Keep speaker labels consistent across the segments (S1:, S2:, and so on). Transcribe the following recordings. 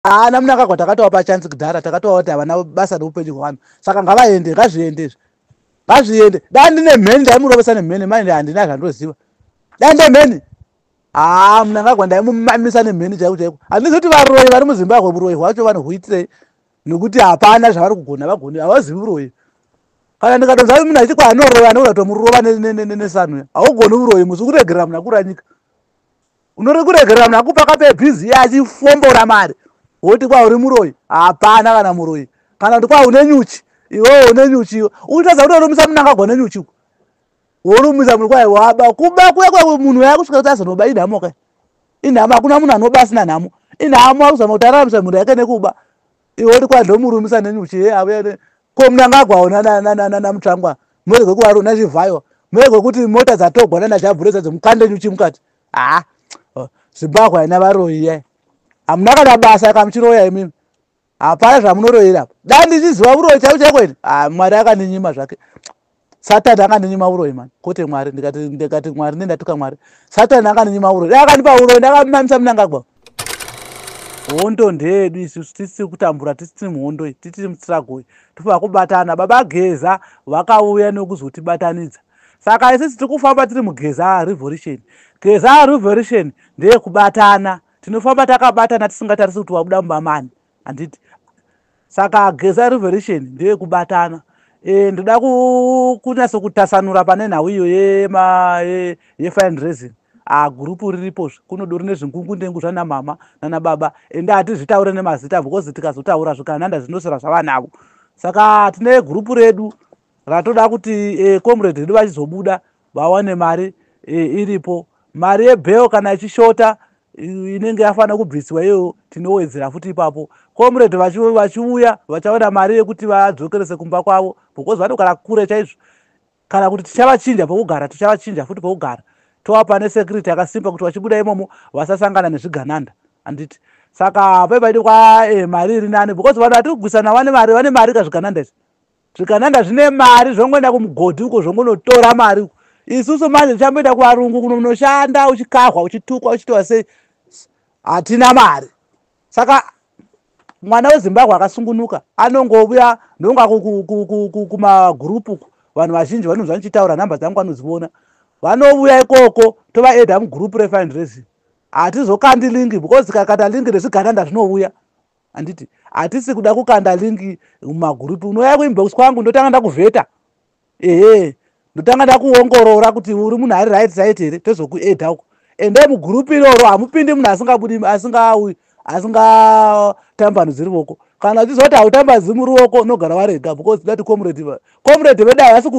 S1: haana ah, munangagwa takatovapa chansi kudhara takatova kuti havana basa neupenyu hwevanhu saka ngavaende ngazviende izvi ngazviende da ndine mheni ndaimurovesa nemheni mai ndi handina zvandoziva da nde mheni haa ah, munangagwa ndaimumamisa nemheni chaiko chaiko handizi kuti varoyi vari muzimbabwe uroyi hwacho vanohuitirei nekuti hapana zvavari kugona vagoni havazivi uroyi kana ndikatonza munhu achiti kwaanoroya anoura tomurova nesanu haugoni uroyi musi ukuregerera munhu akura nyika unori kuregerera munhu akupa kape busy ye achifombora mari woti kwa uri muroyi hapana kana muroyi kana kuti kwa une nyuchi iwewo une nyuchi iwe uchitaza kuti orumisa munhu akagona nyuchi uko worumisa munhu kwai waba kuba kuya kwa munhu yaya kusvika kuti azonoba inhamo kai inhamo hakuna munhu anoba asina nhamo inhamo akuzama kuti araramisa mhuri yake nekuba iwe uri kwa ndomurumisa nenyuchi ye avuya ko munhu anga agwaona namutsvangwa murege kuvaruna chivhayo murege kuti mota dzatogwa nana jabhureza dzomukande nyuchi mukati haa zimbabwe haina varoyi yai hamuna kana basa kamuchiroya imimi hapana zvamunoroyera dai ndichiziva uroyi chaiko chaiko ini ah, mwari akandinyima zvake satani akandinyima uroyi mani kwete mwari ndikati mwari ne ndatuka mwari satani akandinyima uroyi dai akandipa uroyi ndakamamisa munangagwa hondo ndeedu isusu tisiri kutambura tisiri muhondo iyi titiri mutsiragoi tofana kubatana baba geza vakauya nekuzotibatanidza Saka isisi tiri kufamba tiri mugezaa revolution. Gezaa revolution ndeye kubatana. Tinofamba takabatana tisingatarisi kuti wabuda mumba mani. Handiti? Saka gezaa revolution ndeye kubatana. E, ndoda kunyaso kutasanura pane nhau iyo yema ye, ye fine reason ah, gurupu riripo kunodo rine zvingungu ndengu zvana mama nana baba ende hatizvitaure nemazita because tikazotaura zvikananda zvinosera zvavanavo saka tine gurupu redu Ratoda kuti eh, comrade redu vachizobuda vawane mari eh, iripo. Mari yebail kana ichishota inenge yafanira kubviswa iyoyo tinowedzera futi ipapo comrade vachiuya vachaona mari yekuti vadzokerese kumba kwavo because vanogara kure chaizvo kana kuti tichavachinja pokugara tichavachinja futi pokugara tovapa nesecurity yakasimba kuti vachibuda imomo vasasangana nezvigananda handiti saka paipaidi kwa eh, mari iri nani because vanhu vati kugwisana vane mari vane mari kazvigananda izvi zvikananga zvine mari zvongoenda kumugodhi uko zvongonotora mari uko isusu manje tichamboenda kuvarungu kuno munoshanda uchikahwa uchitukwa uchitiwa sei hatina mari saka mwana wezimbabwe akasungunuka anongovuya ndonga kumagurupu uku vanhu vazhinji vanonzi vanichitaura nhamba dzangu vanoziona vanovuya ikoko tovaeda mugurupu refindraising hatizokandilingi because kakata lingi rezvigananda zvinovuya handiti hatisi kuda kukanda lingi mumagurupi unouya kuinbox kwangu ndotanga ndakuvheta ehe ndotanga ndakuongorora kuti uri munhu ari right site here tozokueda uko ende mugurupi iroro hamupindi munhu asingabudi asingaui asingatambanudziri voko kana uchizoti hautambadzi muri woko unogara warega because that comrade comrade vedu havasi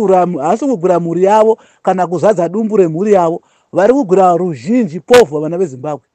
S1: kugwira mhuri yavo kana kuzadza dumbu remhuri yavo vari kugwira ruzhinji povha vana vezimbabwe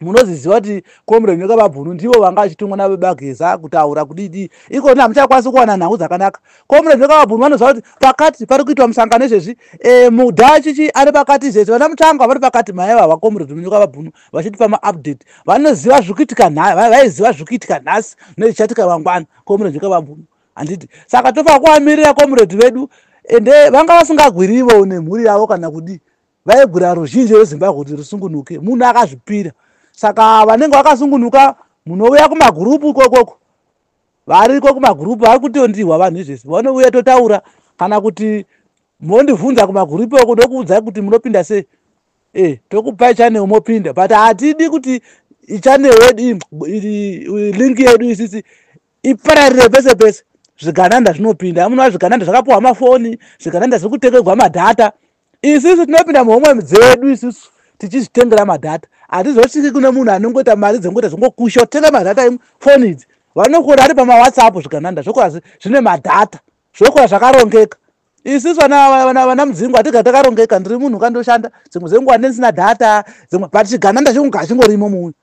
S1: munozviziva kuti comrade nyoka vabhunu ndivo vanga vachitumwa navebageza kutaura kudidi iko ni hamuchakwanisi kuwana nhau dzakanaka comrade nyoka vabhunu vanoziva kuti pakati pari kuitwa musangano izvezvi e, eh, mudhachichi ari pakati izvezvi vana mutsvangwa vari pakati maiva vacomrade nyoka vabhunu vachitipa maupdate vanoziva zviri kuitika vaiziva zviri kuitika nhasi nezvichatika vangwana comrade nyoka vabhunu handiti saka tofa kuvamirira comrade vedu ende vanga vasingagwirivo nemhuri yavo kana kudii vaigwira ruzhinji rwezimbabwe kuti rusungunuke munhu akazvipira saka vanenge vakasungunuka munouya kumagurupu ikokoko variko kumagurupu vari kutondihwa vanhu izvese vanouya totaura kana kuti mondivhunza kumagurupu oko ndokuudzai kuti munopinda sei e tokupai chanel mopinda but hatidi kuti chanel yedu link yedu isisi ipararire pese pese zvigananda zvinopinda amunova zvigananda zvakapuwa mafoni zvigananda zviri kutekegwa madhata isisu tinopinda muhomwe dzedu isisu tichizvitengera madhata hatizosviki kune munhu anongoita mari dzengoita zvingokusha kutenga madhata im foni idzi vanokura ari pamawhatsapp zvikananda zvokura zvine madhata zvokura zvakarongeka isisu vana mudzingo hatiga takarongeka ndiri munhu kandoshanda dzimwe dzenguva ndendisina dhata dzimwe but chigananda chingorimo muyu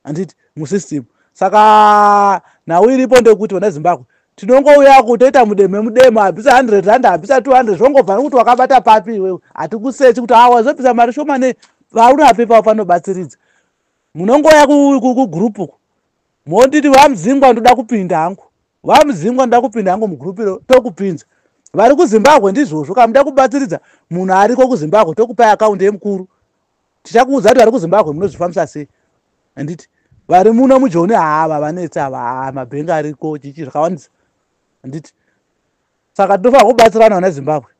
S1: handiti musystem saka nhau iripo ndekuti vana zimbabwe tinongouya kutoita mudemo mudemo abvisa 100 rand abvisa 200 zvongobva nekuti wakabata papi iwewe hatikusechi kuti awa zobvisa mari shoma ne vaurapi pavo panobatsiridza munongouya kugroup uku monditi vamuzingwa ndoda kupinda hangu vamuzingwa ndoda kupinda hangu mugroup iro tokupinza vari kuzimbabwe ndizvozvo kamuda kubatsiridza munhu ariko kuzimbabwe tokupai akaundi yemukuru tichakuudza kuti vari kuzimbabwe munozvifambisa sei handiti vari muno mujoni haava vanetsi ava haa mabhengi ariko chichi zvakawandisa handiti saka tinofanira kubatsirana vana zimbabwe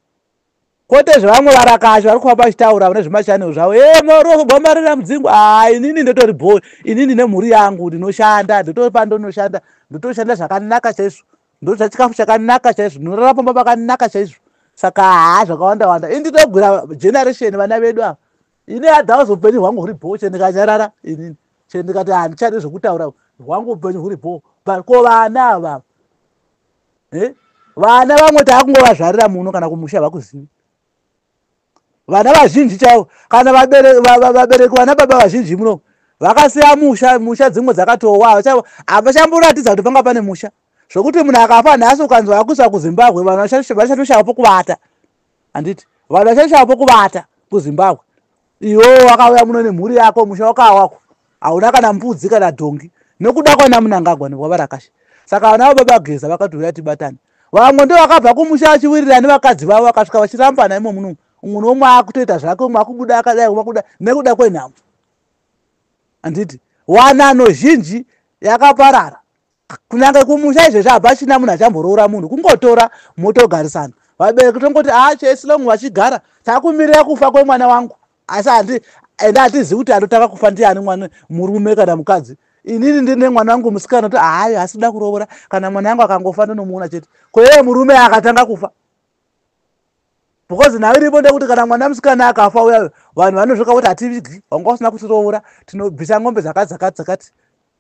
S1: kwete zvevamwe varakashi vari kufamba vachitaura vane zvemashanel zvavo e mwauri wakugwambarira mudzingo haa inini ndotori bhoi inini nemhuri yangu ndinoshanda ndotori pandonoshanda ndotoshanda zvakanaka chaizvo ndochachikafu chakanaka chaizvo ndinorara pamba pakanaka chaizvo saka haa zvakawanda wanda ini ndinogwira generation vana vedu ava ini adhawa zvoupenyu hwangu huri bhoo chee ndikanyarara inini chee ndikati handichadi zvekutaura hwangu upenyu huri bhoo but ko vana avavo eh? vana vamwe taakungovazvarira muno kana kumusha vakuzivi vana vazhinji chaivo kana vabereki vana baba vazhinji muno vakasiya musha musha dzimwe dzakatowa havachamboratidza kuti panga pane musha zvokuti munhu akafa nhasi ukanzwa akuisa kuzimbabwe vanhu vachatoshava pokuvata handiti vanhu vachatoshava pokuvata kuzimbabwe iwo wakauya muno nemhuri yako musha wakawa wako hauna kana mbudzi kana dhongi nokuda kwana munangagwa nekwavarakashi saka vana vababa geza vakati huya tibatane vamwe ndo vakabva kumusha vachiwirira nevakadzi vavo vakasvika vachirambana imo muno umwe nomwe akutoita zvake umwe akubuda akadai umwe akuda nekuda kwenhamo handiti wanano zhinji yakaparara kunyange kumusha izvezvi habva china munhu achamboroora munhu kungotora motogarisana vabereki tongoti aa ah, chesilong vachigara takumirira kufa kwemwana wangu asi handi ende hatizivi kuti anotanga kufa ndiani mwana murume kana mukadzi inini ndine mwana wangu musikana kuti hayi asida kurovora kana mwana wangu akangofa ndonomuona chete koyee murume akatanga kufa because nhau iripo ndekuti kana mwana musikana akafa uya vanhu vanozvoka kuti hativigi wanga usina kutirovora tinobvisa ngombe dzakati dzakati dzakati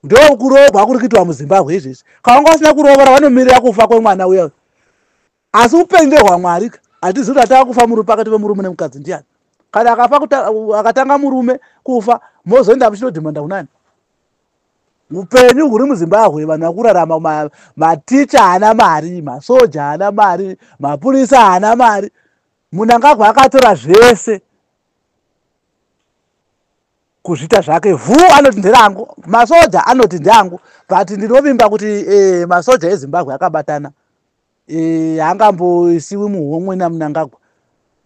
S1: ndokuroogwa kuri kuitwa muzimbabwe izvezvi kawanga usina kurovora vanomirira kufa kwemwana uya asi upenyu ndehwamwari ka hatizi kuti atava kufa murume pakati vemurume nemukadzi ndiyani kana akafa akatanga murume kufa mozoenda muchinodhimanda kunani upenyu huri muzimbabwe vanhu vakurarama maticha haana mari masoja haana mari mapurisa haana mari munangagwa akatora zvese kuzvita zvake vhu anoti nderangu masoja anoti ndeangu but ndinovimba kuti e, masoja ezimbabwe akabatana eh, haangamboisiwi e, muhomwe namunangagwa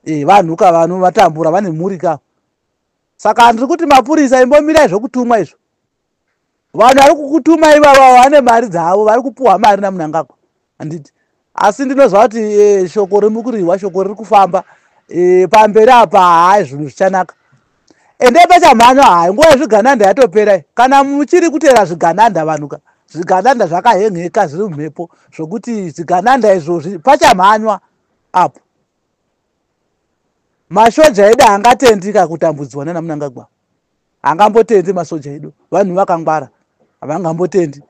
S1: e, vanhu ka vanhu vatambura vane mhuri ka saka ndiri kuti mapurisa imbomirai zvokutumwa izvo vanhu vari kukutuma ivava vane mari dzavo vari kupuhwa mari namunangagwa handiti asi ndinoziva kuti e, shoko rimukurihwa shoko riri kufamba e, pamberi apa hai zvinhu zvichanaka ende pachamhanya hai nguva yezvigananda yatopera kana muchiri kuteera zvigananda vanhuka zvigananda zvakahenheka zviri mumhepo zvokuti zvigananda izvozvi pachamhanywa apo mashoja edu angatendika kutambudzwa nanamunangagwa angambotendi masoja edu vanhu vakangwara havangambotendi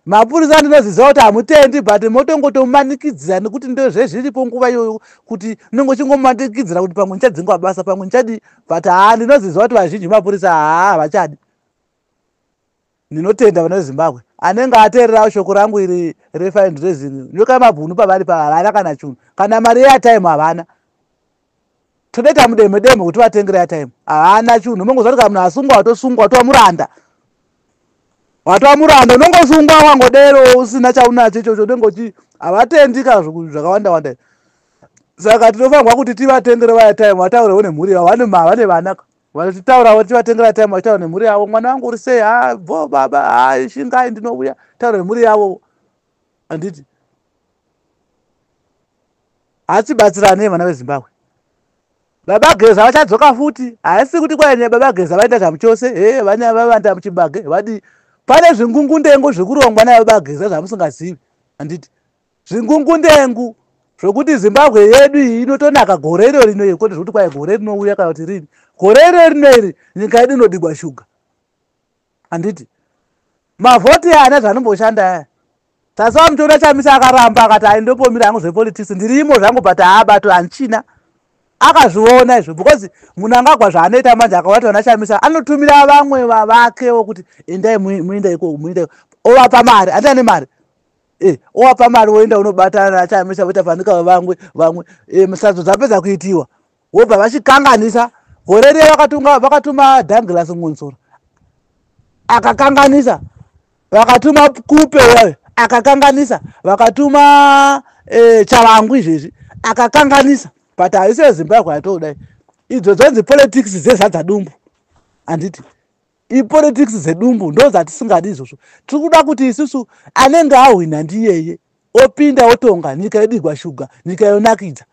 S1: mapurisa ndinoziziva kuti hamutendi but motongotomanikidzira nekuti ndozvezviripo nguva iyoyo kuti unenge uchingomanikidzira kuti pamwe ndichadzingwa basa pamwe ndichadii but haa ndinoziziva kuti vazhinji mapurisa haa havachadi Ndinotenda vana veZimbabwe. Anenge ateererawo shoko rangu iri reFind Raising. Nyoka yamabhunu pavari pa havana kana chunhu. Kana mari yeatime havana. Todaita mudemo demo kuti vatengere atime. Havana chunhu. Mongo zvatika munhu asungwa watosungwa watova muranda. Watova muranda unongosungwa wangodero usina chaunacho ichocho unenge uchi havatendi kana zvakawanda wanda. Saka tinofanirwa kuti tivatengere vaya time vataurewo nemhuri yavo vane vana. Vanototaurawo tichivatengera time vachitaura nemhuri yavo mwana wangu uri sei ha bho baba ha shingai ndinouya taura nemhuri yavo handiti hatibatsiranei vana vezimbabwe baba geza vachadzoka futi haisi kuti kwaine baba geza vaita zvamu chose he vane vavanda muchibage vadii pane zvingungundengo zvekurongwa nababa geza zvamusingazivi handiti zvingungundengu zvokuti zimbabwe yedu iyi inotonaka gore iro rino iri kwete zvokuti kwai gore rinouya kana kuti rini gore iro rino iri nyika yedu inodigwa shuga handiti mavhoti ana zvanomboshanda aya tasi vamutoona chamisa akaramba akati aindombomira hangu zvepolitisi ndirimo zvangu but haabato handichina akazviona izvo because munhu angagwa zvaanoita manje akaona tiona chamisa anotumira vamwe vavakewo kuti endai muinda iko muinda iko ovapa mari andani mari Eh, owapa mari woenda unobatana nachaamisa voita fanika vamwe vamwe eh, musadzo dzapedza kuitiwa wobva vachikanganisa gore riya vakatunga vakatuma danglas ngonsora akakanganisa vakatuma kupe wayo akakanganisa vakatuma eh, chavangu izvezvi akakanganisa but haisi yezimbabwe yatoodai idzo dzonzi politics dzezadza dumbu handiti ipolitics dzedumbu ndo dzatisingadi izvozvo tiri kuda kuti isusu anenge ahwina ndiyeye opinda otonga nyika yedigwa shuga nyika yonakidza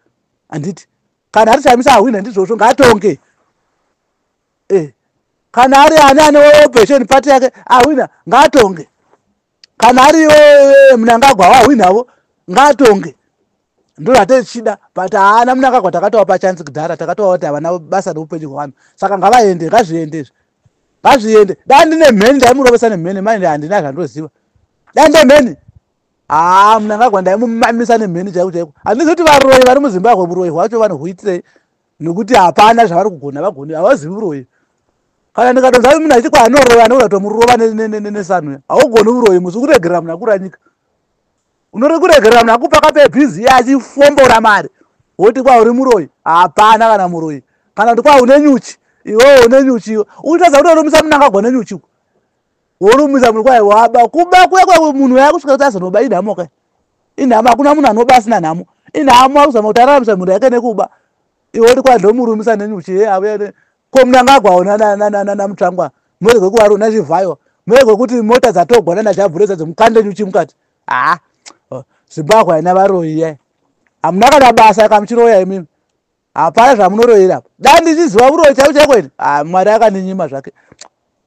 S1: handiti kana ari chamisa ahwina ndizvozvo ngaatonge e kana ari ani ane opposition party yake ahwina ngaatonge kana ari e, e, e, mnangagwa wahwinavo ngaatonge ndo zvatetichida but haana munangagwa takatova pachansi kudhara takatova kuti havana basa neupenyu hwevanhu saka ngavaende ngazviende izvi ngazviende dai ndine mheni ndaimurovesa nemheni mai handina zvandoziva dai nde mheni haa munangagwa ndaimumamisa nemheni chaiko chaiko handizi kuti varoyi vari muzimbabwe uroyi hwacho vanohuitirei nekuti hapana zvavari kugona vagoni havazivi uroyi kana ndikadonza munhu achiti kwaanoroya anoura tomurova nesanwe haugoni uroyi musi ukuregerera munhu akura nyika unori kuregerera munhu akupaka pebhizi iye achifombora mari woti kwa uri muroyi hapana kana muroyi kana kuti kwa une nyuchi iwewo une nyuchi iwe uchitaza kuti orumisa munhu akagwa nenyuchi uko worumisa munhu kwai waba kuba kuya kwa munhu waya kusvika kuti azonoba inhamo kai inhamo hakuna munhu anoba asina nhamo inhamo akuzama kuti araramisa mhuri yake nekuba iwe uri kwandomurumisa nenyuchi ye avo yene ko munangagwa ona nana mutsvangwa murege kuvaro na zvivhayo murege kuti mota dzatogwa nana zhabhureza dzomukande nyuchi mukati haa oh, zimbabwe haina varoyi ye hamuna kana basa yaka muchiroya imimi hapana zvamunoroyera apo da ndichiziva uroyi chaivo chaiko ini ha mwari akandinyima zvake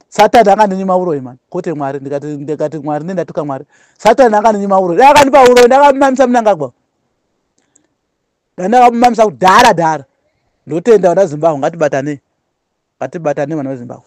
S1: satani akandinyima uroyi mani kwete mwari ndikati ndikati mwari nendatuka mwari satani akandinyima uroyi da akandipa uroyi ndakamamisa munangagwa Dana vamamisa kudhara dhara. Ndotenda vana Zimbabwe ngatibatane. Ngatibatane vana veZimbabwe.